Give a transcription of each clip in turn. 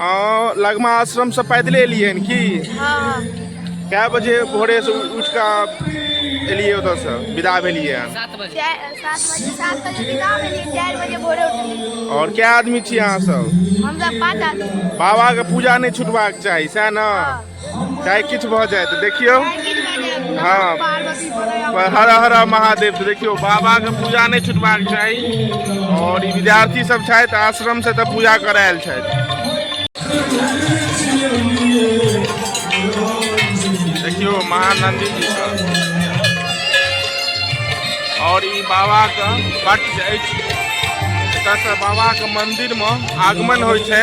हँ लगमा आश्रम से पैदले एलियै हन की हँ कए बजे भोरे से उठ कऽ एलियै ओतऽ से विदा भेलियै हन सात बजे चारि- सात बजे सात बजे बिना भेलियै चारि बजे भोरे उठलियै और क्या आदमी छी अहाँ सब हमसब पाँच आदमी बाबा के पूजा नहि छूटबाक चाही सएह ने चाहे किछु भऽ जाय तऽ देखियौ हँ पर हर हर महादेव तऽ देखियौ बाबाके पूजा नहि छुटबाक चाही आओर ई विद्यार्थी सब छथि आश्रम से तऽ पूजा करायल छथि देखियौ महानंदी जी सब आओर ई बाबाके पट अछि एतयसँ बाबाके मन्दिरमे आगमन होइ छै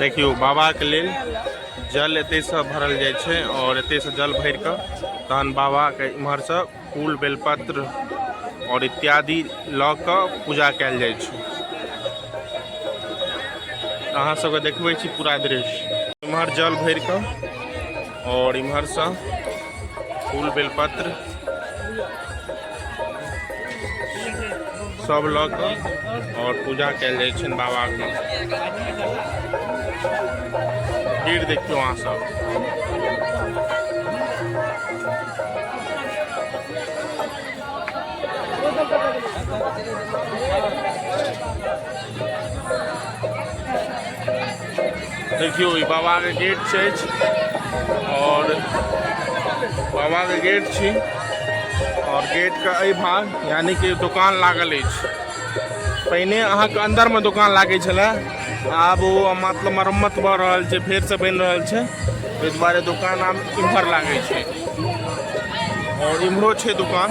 देखियौ बाबाके लेल जल एतयसँ भरल जाइ छै आओर एतयसँ जल भरि कऽ तहन बाबाके इम्हरसँ फूल बेलपत्र आओर इत्यादि लऽ कऽ पूजा कयल जाइ छै अहाँ सबके देखबै छी पूरा दृश्य इम्हर जल भरि कऽ और इमहर से फूल बेलपत्र सब लऽ कऽ और पूजा कल जाइ छनि बाबाके भीड़ देखियो अहाँ सब देखियौ ई बाबाके गेट छै आओर बाबाके गेट छी आओर गेटके एहि भाग यानि कि दोकान लागल अछि पहिने अहाँके अन्दरमे दोकान लागै छलए आब ओ मतलब मरम्मत भऽ रहल छै फेरसँ बनि रहल छै ताहि दुआरे दोकान आब इम्हर लागै छै आओर इम्हरो छै दोकान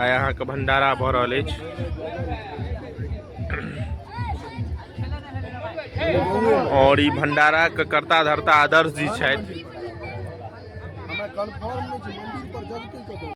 आइ अहाँके भंडारा भऽ रहल अछि आओर ई भंडाराके कर्ता धर्ता आदर्श जी छथि